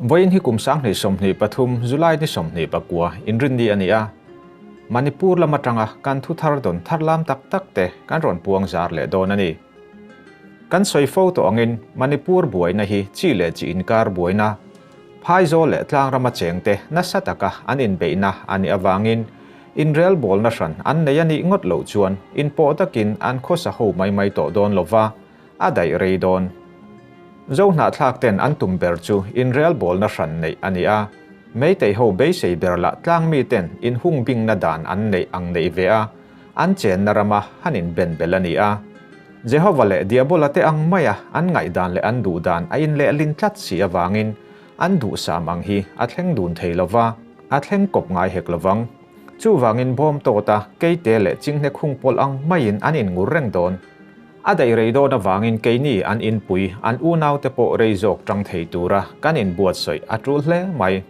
Vawiin hi kum sang hnih sawmhnih pathum July ni sawmhnih pakua inrinni a ni a. Manipur lam atanga kan thuthar dawn thar lam tak tak te kan rawn puang zar leh dawn a ni. Kan sawi fo tawh angin Manipur buaina hi chi leh chi inkar buaina, Phaizawl leh tlang rama chengte nasa taka an inbeihna a nih avangin inrel bawlna hran an nei a nih ngawt loh chuan inpawh takin an khawsa ho mai mai tawh dawn lova a daih rei dawn. Zo hnahthlak ten an tum ber chu inrel bawlna hran neih a ni a, meiteiho beisei ber lah tlang miten inhung bingna dan an neih ang neih ve a, an chenna rama han inben belh a ni a. Jehova leh Diabola te ang maia an ngaihdan leh an duhdan a inlehlin tlat si avangin an duhsam ang hi a thleng dun thei lo va, a thleng kawp ngai hek lo vang. Chuvangin bawmtawta, keite leh chinghnek hung pawlh ang maiin an inngur reng dawn. A daih rei dawn avangin keini an inpui, an unaute pawh rei zawk ṭang thei tura kan inbuatsawi a ṭul hle mai.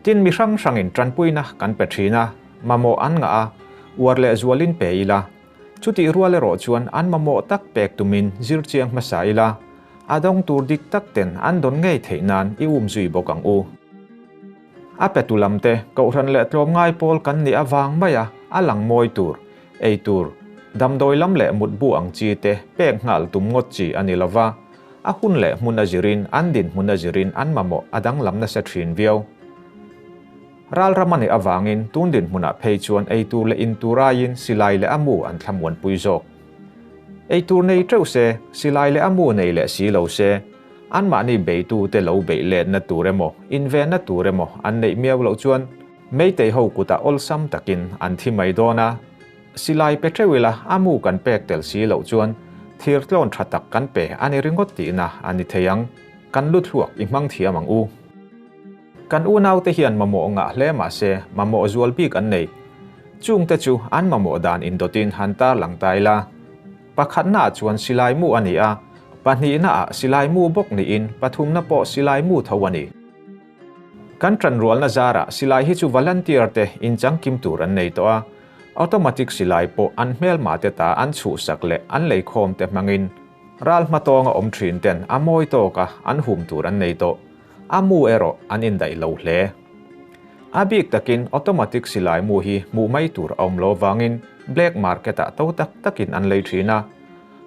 Tin, mi hrang hrangin tanpuina kan pe thin a, mamawh an ngah a, uar leh zualin pe ila. Chutih rual erawh chuan an mamawh tak pek tumin zir chiang hmasa ila, a dawng tur dik tak ten an dawn ngei theih nan i um zui bawk ang u. A petu lamte, kohhran leh tlawm ngai pawl kan nih avang mai a, a lang mawi tur, ei tur, damdawi lam leh mutbu ang chi te pek nghal tum ngawt chi a ni lo va, A hun leh hmun a zirin, an dinhmun a zirin an mamawh a danglam nasa thin viau. Ralram a nih avangin tun dinhmunah phei chuan eitur leh intur aiin silai leh a mu an thlamuanpui zawk. Eitur nei teuh se, silai leh a mu nei leh si lo se, anmahni beitute lo beih letna tur emaw, invenna tur emaw an neih miau loh chuan Meiteiho kutah awlsam takin an thi mai dawn a. Silai pe teuh ila a mu kan pek tel si loh chuan thir tlawn tha tak kan pe a ni ringawt tihna a ni thei ang. Kan lut hluak i hmang thiam ang u. Kan unaute hian mamawh ngah hle mahse mamawh zual bik an nei. Chungte chu an mamawh dan indawtin han tarlang ta ila. Pakhatnaah chuan silai mu a ni a, pahnihnaah silai mu bawk niin pathumna pawh silai mu tho a ni. Kan tanrualna zarah silai hi chu volunteer te inchang kim tur an nei tawh a, automatic silai pawh an hmelmah te ta an chhuhsak leh an leikhawm te hmangin ral hma tawnga awm thin ten a mawi tawka an hum tur an nei tawh, a mu erawh an indaih lo hle. A bik takin automatic silai mu hi hmuh mai tur a awm lo vangin black market ah to tak takin an lei thin a,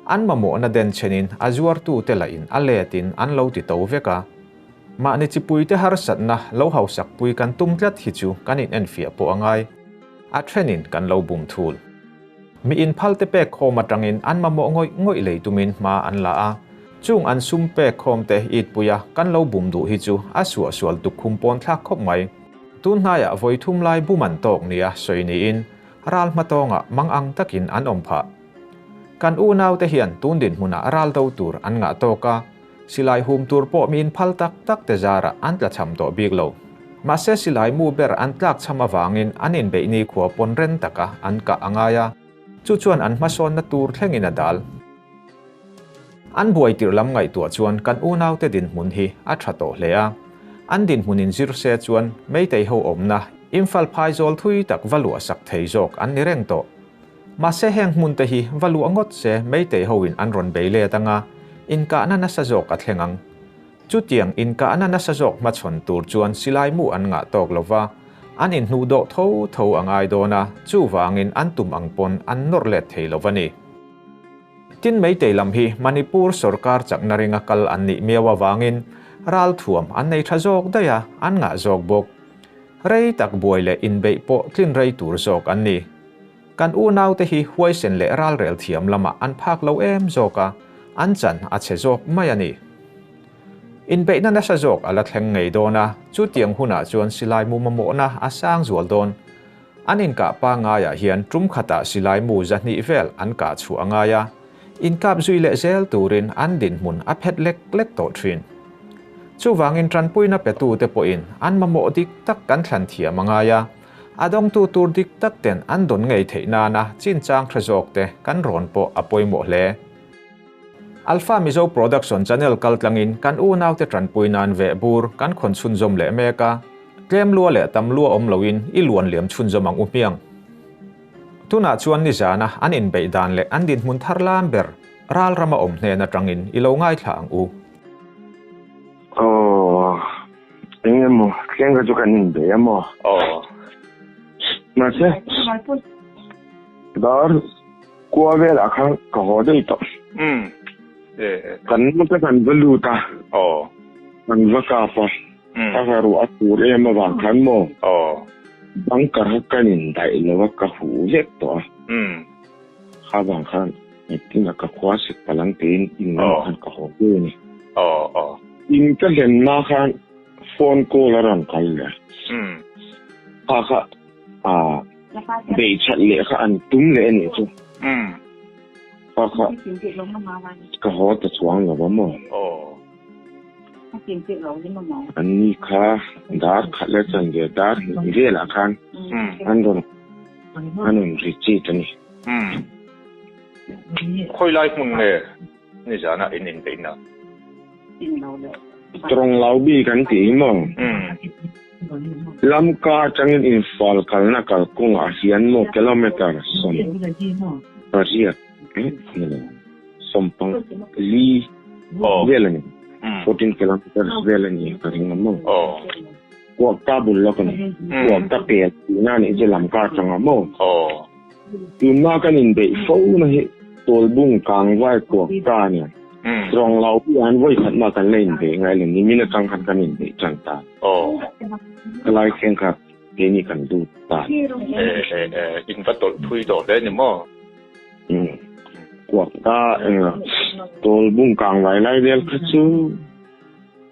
an mamawhna den chenin a zuartute lahin a let in an lo ti to vek a, Mahni chipuite harsatna lo hausakpui kan tum tlat hi chu kan inenfiah pawh a ngai. A thenin kan lo bum thul. Mi inphalte pekkhawm atangin an mamawh ngawih ngawih lei tumin hma an la a. Chung an sum pekkhawmte itpuia kan lo bum duh hi chu a suah sual tuk khum pawn thlak khawp mai. Tun hnaiah vawi thum lai bum an tawk nia sawi niin ral hma tawnga mang ang takin an awm phah. Kan unaute hian tun dinhmunah ral do tur an ngah tawk a. Silai hum tur pawh mi inphal tak tak te zarah an tla cham tawh bik lo. Mahse silai mu ber an tlak chham avangin an inbeih nikhua pawn ren taka an kah a ngai a, chu chuan an hmasawnna tur thlengin a dal. An buai tirh lam ngaihtuah chuan kan unaute dinhmun hi a tha tawh hle a. An dinhmun in zir se chuan Meiteiho awmna, Imphal phaizawl thui tak va luahsak thei zawk an ni reng tawh. Mahse heng hmunte hi va luah ngawt se meitei hoin an rawn bei let anga inkahna nasa zawk a thleng ang. Chutiang inkahna nasa zawk hmachhawn tur chuan silai mu an ngah tawk lo va, an inhnu dawh tho tho a ngai dawn a, chuvangin an tum ang pawn an nawr let thei lo a ni. Tin, meitei lam hi Manipur sorkar chakna ringa kal an nih miau avangin ral thuam an nei tha zawk daih a, an ngah zawk bawk. Rei tak buai leh inbeih pawh tlin rei tur zawk an ni. Kan unaute hi huaisen leh ralrel thiam lamah an phak lo em zawk a, an chan a chhe zawk mai a ni. Inbeihna nasa zawk a la thleng ngei dawn a, chutiang hunah chuan silai mumamawhna a sang zual dawn. An inkah pangaiah hian ṭum khatah silai mu zahnih vel an kah chhuah a ngai a, inkap zui leh zel turin an dinhmun a phet lek lek tawh ṭhin. Chuvangin ṭanpuina petute pawhin an mamawh dik tak kan thlan thiam a ngai a, A dawngtu tur dik tak ten an dawn ngei theih nana chinchang thre zawk te kan rawn pawh a pawimawh hle. Alpha Mizo Production channel kal tlangin kan unau te tanpui nan ve bur kan khawn chhunzawm leh mek a, tlem lua leh tam lua awm loin i luan liam chhunzawm ang u hmiang. Tunah chuan nizana an inbeih dan leh an dinhmun thar lam ber ralram a awm hnen atangin i lo ngaithla ang u. Aww. Eng emaw, tleng kha chu kan inbeih a maw? Aw. Mahse, dar kua velah kha ka haw daih tawh. Um, e. Kan nu te kan va lut a. Aw. Kan va kap a. Um. A ka ruah a tur em avang khan maw? Aw. Bang karah kan indaih lo a ka huh vek tawh a. Um. Avang khan. Tunah ka khua sik palang tein in lamah khan ka haw ve a ni. In ka hlenna khan phone call a rawn kal leh a. Kha kha beihchhat leh kha an tum leh a nih chu. Kha kha ka haw ta chuang lo a maw? An ni kha dar khat leh a chanve dar hnih velah khan an rawn richit a ni. Umm. Khawilai hmun nge ni zana in inbeih na? Strong lau bi kan ti i maw? Umm. Lam ka atangin infal kalna kal kawngah hian maw kilometer sawm pariat emaw sawmpang li vel a ni. Fourteen kilometres vel a ni ka ring a maw? Kuak ta bul lawk a ni. Kuak ta kel tihna a nih chu lam ka chang a maw? Tun hma kan inbeih fo na hi Tawlbung kangvai kuak ta a ni. Strong lo hi an vawi khat mah kan la inbeih ngai lo, nimin atang khan kan inbeih tan ta ani. Khawlai thleng kha keini kan lut ta ani. E e e, in va tawlh phui tawh hle ni maw? Umm. Kuak ta enga Tawlbung kangvai lai vel kha chu.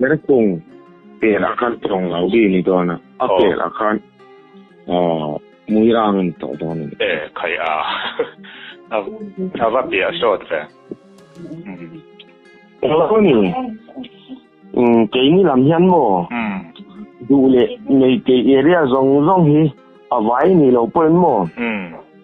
Ber kung tel a khan tawng lo bi ni dawn a, a tel a khan mui rang a ni tawh dawn a ni. E, khai a, a va piah sawt ve. Eng lo a ni, keini lam hian maw duh leh nei kei area zawng zawng hi a vai ni lo pawhin maw?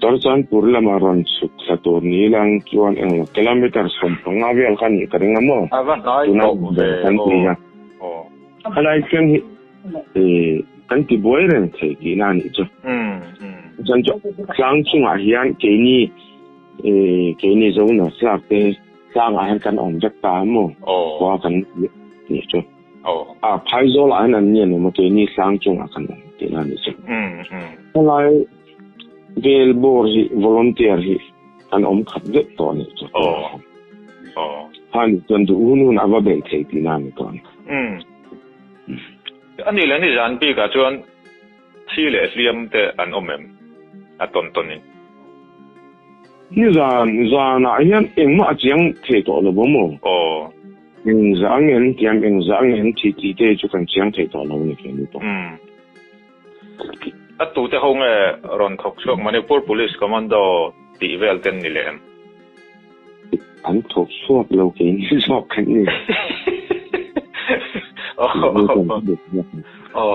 Chuan chuan pur lamah rawn chhuk thla tur ni lang chuan englo kilometre sawm panga vel kha nih ka ring a maw? Tuna inber kan ti a. A lai thleng hi kan ti buai reng thei tihna a nih chu. Chuan chu tlang chungah hian keini keini zo nawr thlak te tlangah hian kan awm vek ta a maw khua kan tih a nih chu. Aw, a Phaizawl ahin an ni a nuam a, keini Slang chungah kan awm tih na a nih chu. Helai vel bawr hi volunteer hi an awm khat deuh tawh a nih chu. Aw. Kha nih chuan duh hun hun a va beih thei tih na a ni tawh a ni. Anih leh ni zan bikah chuan. Thi leh hliam te an awm em? A tawn tawn in. Nizan zan ah hian engmah a chiang thei tawh lo bawm aw. Aw. Eng zah ang em tiam eng zah ang em thi ti te chu kan chiang thei tawh lo ni ke ni pawh. Umm. A tu te ho nge rawn thawk chhuak Manipur Police Commando tih vel ten ni leh em? An thawk chhuak lo ke ni zawk kan ni. Aw. Aw.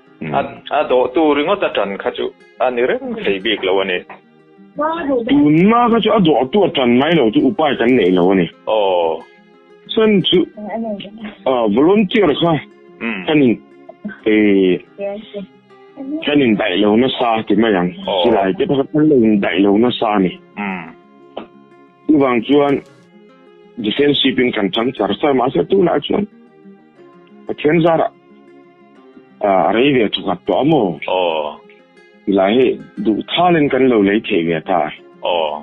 A dawhtu ringawt a ṭan kha chu a ni reng thei bik lo a ni. Tunna kha chu a dawhtu a ṭan ngai lo chu upai kan neih lo a ni. Aw. Chuan chu volunteer kha kan in kan in daih lo nasa ti mai ang. Silai te pakhat kan lo in daih lo nasa a ni. Chuvang chuan defensive in kan ṭang char char mahse tunah chuan, Pathian zar a a rei ve chu nghat tawh a maw? Aw. Tilai hi duh thalin kan lo lei thei ve ta. Aw.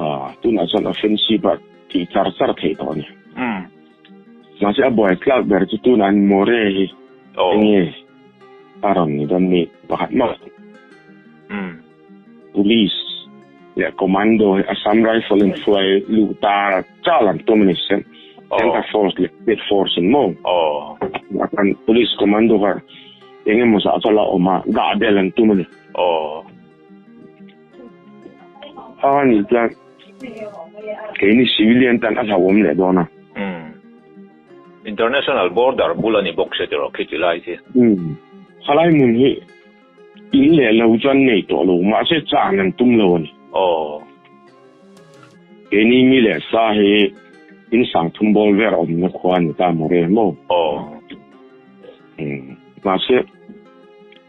A, tunah chuan offensive a tih char char thei tawh a ni. Umm. Mahse a buai tlak ber chu tunah hian More hi enge a rawn ni dawn nih pakhat mah. Umm. Police leh Commando hi Assam Rifle in hruai luh ta chal an tum a ni se. Centre Force leh State Force in maw? A kan Police Commando kha eng emaw zah vel a awm a, dah del an tum a ni. Kha kha nih chuan keini civilian ten a hlauhawm leh dawn a. International border bul a ni bawk se tih rawh khi tilai khi. Khalaimun hi. In leh lo chuan nei tawh lo, mahse chahn an tum lo a ni. Aww. Keini mi leh sa hi in sang thum bawl ber awmna khua a ni ta maw re maw? Aww. Umm, mahse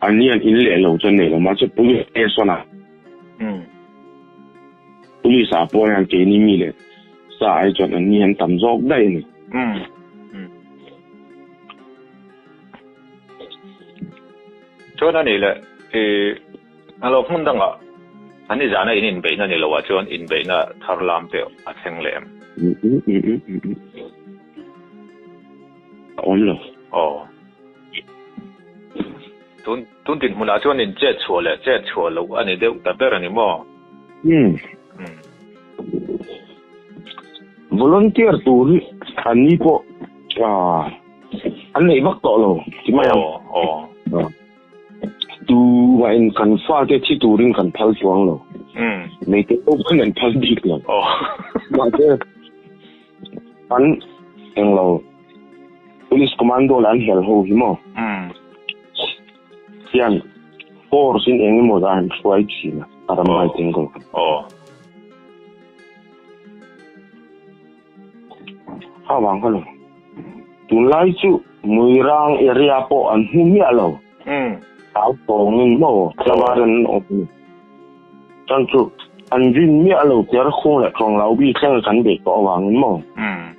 an ni an in leh lo chuan nei lo, mahse police station ah umm police ah pawh hian keini mi leh sa ai chuan an ni an tam zawk daih a ni. Umm. Chuan a nih leh, i hnalo hmun dangah an i zana in inbeihna ni loah chuan inbeihna thar lam te a thleng leh em? A awm lo. Aw. Tun tun dinhmunah chuan in chet chhuah leh chet chhuah loh a ni deuh ta ber a ni maw? Umm. Umm. Volunteer tur an ni pawh, ah. An nei vak tawh lo, ti mai ang. Aw. Tu ma in kan fa te thi turin kan phal chuang lo. Hmm. Nei te lo khan an phal bik lo. Aw. Ma te an eng lo. Police commando la an hel ho hi mo. Hmm. Hian force in eng emaw zan an hruai thin a. Aram bai teng ko. Aw. Kha vang kha lo. Tun lai chu Muirang area pawh an hmu miah lo. Hmm. Tau tawng in maw? Chawvar an awm ni. Chang chu an vin miah lo ker khung leh kawng lau bi thleng kan beh pawh avang in maw? Hmm.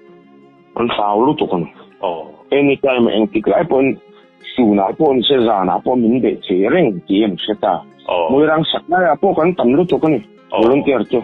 An hlau lutuk a ni. Aw. Anytime eng tik lai pawhin tunah pawh ni se zanah pawh min beh thei reng tih i an hre ta. Aw. Muirang sak laiah pawh kan tam lutuk a ni. Aw. Volunteer chu.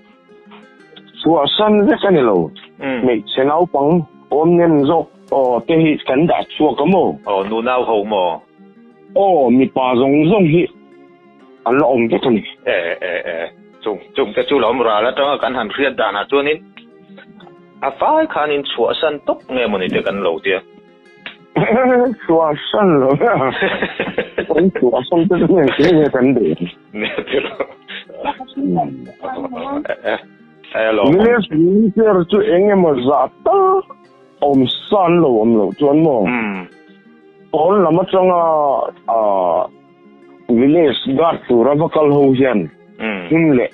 Chua san vek a ni lo. Hmm. Hmeichhe naupang awm nem zawk aw te hi kan dah chhuak a maw? Aw, nu nau ho maw? Aw, mipa zawng zawng hi an la awm vek a ni. E e e, chung chung te chu lawm ral atanga kan han hriat danah chuanin a vai khanin chhuah san tawp nge mawni te kan lo tia. Thua san lo ha. Oi thua san te ne ti ne kan de. Ne ti lo. Hello. Ne ti ter chu enge ma za ta. Om san lo om lo chuan mo. Hmm. Pawl lama changa a village guard tura vakal ho hian. Hmm. Him le.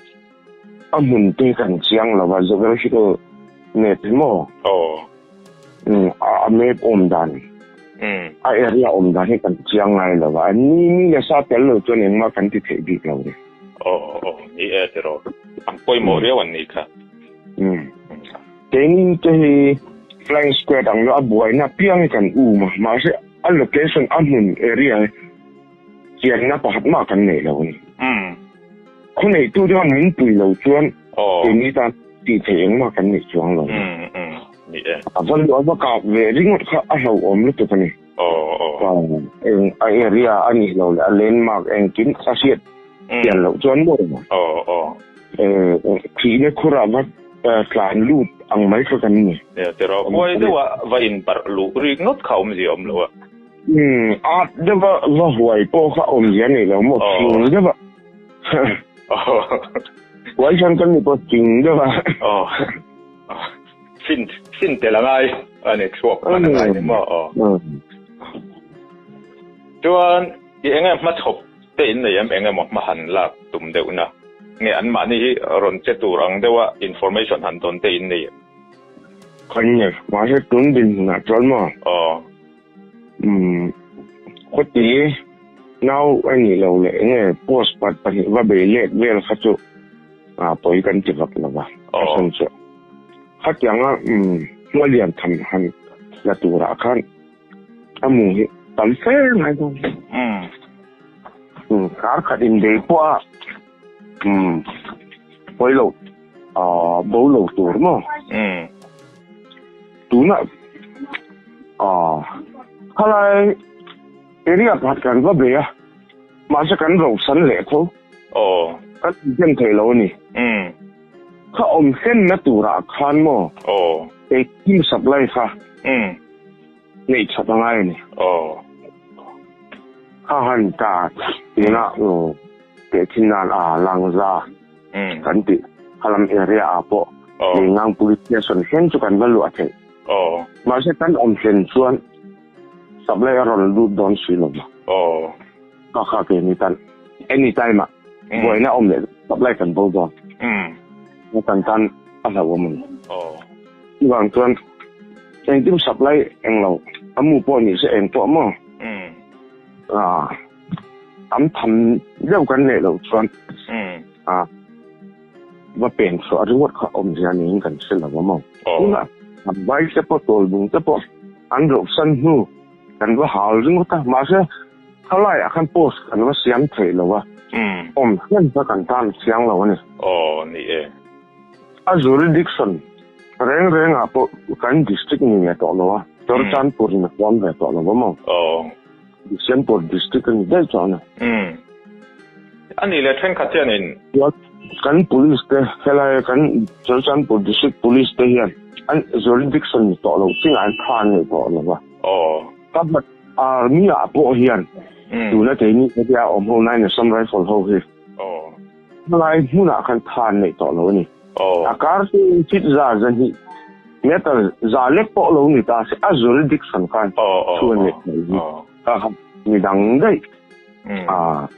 A hmunte kan chiang lo va, geographical map hi maw? Aw. Um, a map awm dan, um, a area awm dan hi kan chiang ngai lo va, ni ni la sa tel lo chuan engmah kan ti theih bik lo ri. Aw, aw, ni e ti rawh, an pawimawh riau an nih kha. Um, keini te hi flying squad ang lo, a buaina apiang hi kan um a, mahse a location, a hmun, area hi chianna pakhat mah kan nei lo ani. Hmm. Khawneitu chuan min pui lo chuan kemi tan ti thei engmah kan nei chuang lo. Hmm hmm. Ni e. A va luah va kap ve ringawt kha a hlauhawm lutuk ani. Aw aw. Eng a area a nih lo leh a landmark engkim a hriat chian loh chuan maw emaw. Aw aw. Ee, thihna khurah va tlan lut ang mai kha kan ni. Nia tirh a. Huai deuhah va inparh luh ringawt kha awmzia awm lo a. Umm art deuha va huai pawh kha awm zia nei lo maw hring deuha huai chhan kan ni pawh hring deuha fin fin te la ngai a ni chhuak hman a ngai ni maw chuan i enge hma chhawp te in nei em engemaw hma han lak tum deuh na nge anmahni hi rawn che tur ang deuha information han dawn te in nei em? Khawnge mahse tun dinhmun ah chuan maw. Umm khuti nau a nih lo leh enge post pat pahnih va bei lek vel kha chu a pawi kan ti vak lo va ka sawn chu khatiang a umm hma lian tham han la turah khan a mu hi tam fel ngai dawn umm kar khat in bei pawh a Umm pawi loh aah bo lo tur maw? Umm tuna aah khalai area pakhat kan va bei a mahse kan rosan leh kho aww kan infiam theih lo a ni umm kha awm hlenna turah khan maw aww hei thim supply kha umm neih chhat a ngai a ni aww kha han ta tuna aww. teh chin nan a lang za kan tih kha lam area ah pawh Leingang police station thleng chu kan va luah theih mahse kan awm thlen chuan supply a rawn lut dawn si lo va kha kha ke ni tan any time ah buaina awm leh supply kan bo dawn a tan tan a hlau awm a ni chu vang chuan engkim supply englo amu pawh ni se eng pawh maw ah tam tham deuh kan leh lo chuan a va pen thluah a reward kha awm zia niin kan hre lo a maw tuna an vai te pawh tawl bung te pawh an rawh san hnu kan va hal ringawt a mahse khalai a khan post kan va siam thei lo a awm hnem kha kan tan chiang lo a ni aw ni e a jurisdiction reng reng ah pawh kan district ni nge tawh lo a chawr chan pur in a huam ve tawh lo a maw aw December district a ni daih chuang a. Umm. A nih leh thenkhat chian in. Kan police te, helai kan Churachandpur district police te hian an jurisdiction ni tawh lo chingah an phar ngei tawh lo va. Aww. Ka hman army ah pawh hian tuna kei ni ka tia awm ho nain Assam Rifle ho hi. Aww. Hmangaih hmunah khan tha an neih tawh lo a ni. A karte chit za zahnih meter za lek pawh lo ni ta, a zul dik san khan thu an neih tawh lo a ni. Mi dang daih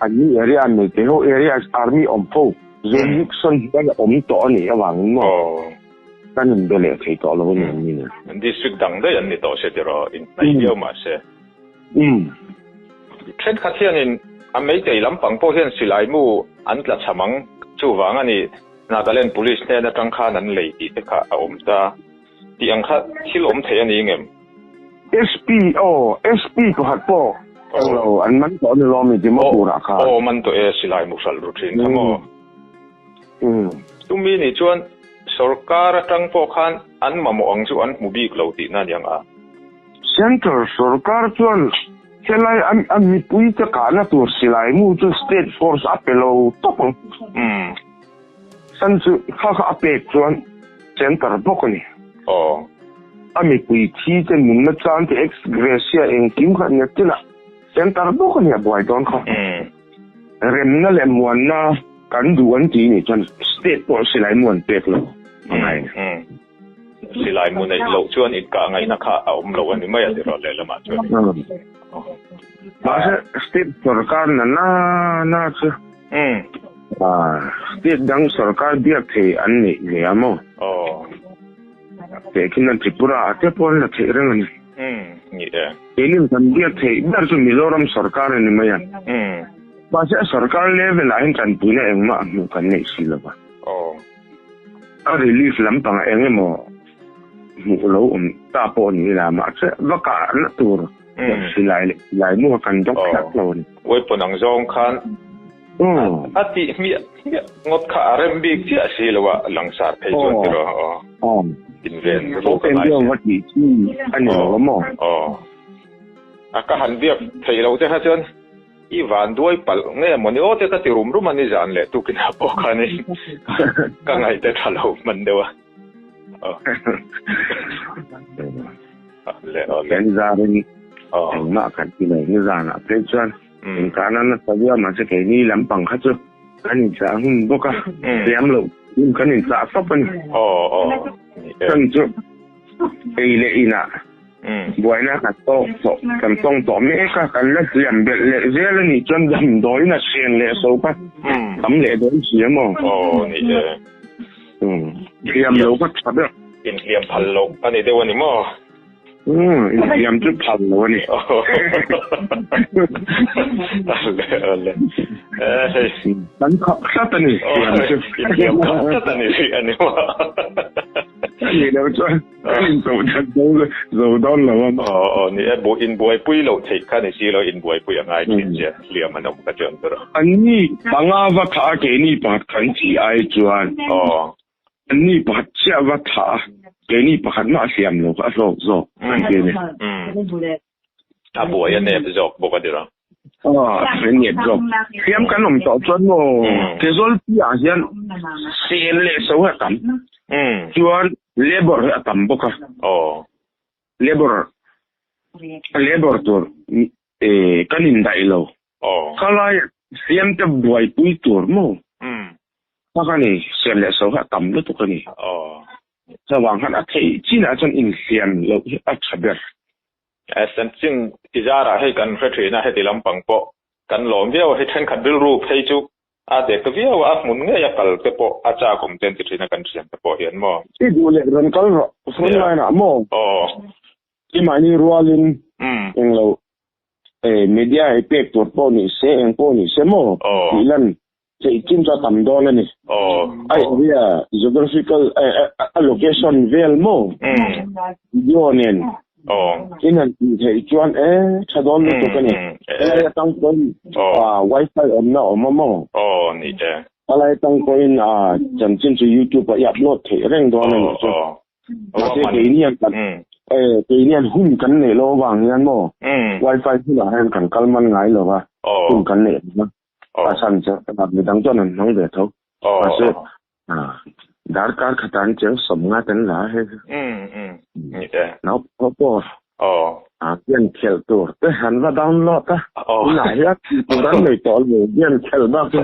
an ni area an nei te ho area is army awm fo, zul dik san hi khan a awm tawh a nih avangin maw kan in be leh thei tawh lo a ni ang ni. District dang daih an ni tawh se tiraw? In hnaih viau mah se. Um. Thenkhat hianin a Meitei lampang pawh hian silaimu an tla cham ang. Chuvang a nih Nagaland Police hnen atang khan an lei tih te kha a awm ta. Tih ang kha thil awm theih a ni ngem? SP, Aw, SP pakhat pawh eng lo an man tawh a ni lawm i Dimapur-ah khan. Aw, aw, aw man tawh e, silaimu hralh ru thin kha maw? Um. Chumi nih chuan sorkar atang pawh khan an mamawh ang chu an hmu bik lo tihna a ni ang a. Central sorkar chuan helai a mipui te kahna tur silai mu chu state force a pe lo tawp ang. San chu kha kha a pek chuan center bawk a ni. A mipui thi te nunna chang te ex gratia engkim kha nia chila center bawk a ni a buai dawn kha. Remna leh muanna kan duh an tih ni chuan state pawh silai mu an pek lo a ngai. Silai mu neih loh chuan inkah ngaihna kha a awm lo a ni mai a tirawl lehlamah chuan. Mahse, state sawrkar nana na chu state dang sawrkar biak thei an neih ve a maw? Teh khin a Tripura-a te pawh an la theih reng a ni. Ni e. Keilim kan biak theih ber chu Mizoram sawrkar a ni mai a. Mahse, a sawrkar level-ah hian tanpuina engmah a hmuh kan neih si lo va. A relief lampangah eng emaw hmuh lo awm ta pawh ni ila mahse vakahna tur pawh silai leh silai mua kan dawk hlat lo a ni. Weapon ang zawng khan a tih hmiah hmiah ngawt kha a rem bik chiah si lo a, langsar phei chuan ti rawh a aw inven ru ka ngai se. Aww tih chu a ni lo awm aw. Aww a ka han biak theih loh te kha chuan. I vanduai palh nge maw ni aw te ka ti rum rum a ni zan leh tu kinah pawh khan i ka ngaih ta tha lo hman deuh a. Eng zan ring eng mah kan ti mai hi zanah phei chuan eng kana na sa viau mahse keini lam pang kha chu kan inchah nghun bawk a, hliam loh in kan inchah fap a ni. Chumi chu ei leh inah. Buaina ka tawk tawh, kan tawng tawh mek a, kan la hliam belh leh zel a nih chuan damdawiin a thian leh so ka, tam leh dawn si a maw? Aw ni e. Umm, hliam lo ka tha ber. Inhliam phal lo a ni deuh a ni maw? Umm, inhliam chu phal lo a ni. Kan khap tlat a ni hliam chu. Inhliam khap tlat a ni tih a ni maw? Ani lo chuan. Zo dawn lo a. Aw ni e, inbuaipui loh theih kha ni si lo, inbuaipui a ngai thin che, hliam an awm ka ti ang ka ru. An ni panga va thah a, keini pakhat kha an chih ai chuan. Aw. An ni pakhat chiah va thah a, keini pakhat mah a hliam lo kha a hlawk zawk, an ti a ni. Umm. A buai a nep zawk bawk a tira. Ahh a nep zawk. Hliam kan awm tawh chuan maw Kawzawl piahah hian sen leh so hi a tam chuan labour hi a tam bawk a. Labour labour tur kan indaih lo. Kha laia Hliamte buaipui tur maw kha ka ni, sen leh so hi a tam lutuk a ni. Chuvang han a theih chin ah chuan inhliam loh hi a tha ber. Sensing ti zar ah hei kan hre thin a heti lampang pawh kan lawm viau a hi thenkhat rilru phei chu a dek ta viau a a hmun ngei a kal te pawh a chak awm ten ti thin a kan hriam te pawh hian maw. I duh leh rawn kal rawh front line ah maw. Aww. I mahni rual in eng lo media ei pek tur pawh nise eng pawh nise maw tih lan Chei chin chuan tam dawn a ni. A area, geographical, a location vel maw? Video nen i han tih theih chuan e tha dawn lutuk a ni. Palai atang pawhin Wi-Fi awmna a awm a maw? Palai atang pawhin chanchin chu YouTube ah i upload theih reng dawn a nih chu. Mahse keini hian hun kan neih lo avang hian maw Wi-Fi hunah hian kan kal man ngai lo a, hun kan neih reng a. Pasal chu midang chuan an hmang ve tho. Mahse, darkar khat an cheng sawm ngat an la a hei chu. Naupang pawh game khelh tur te an va download a, tunah hian tur an nei tawh lo game khelh bak chu.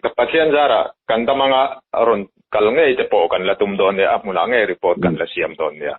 Ka Pathian zarah kan damanga rawn kal ngei te pawh kan la tum dawn nia, a hmunah ngei report kan la siam dawn nia.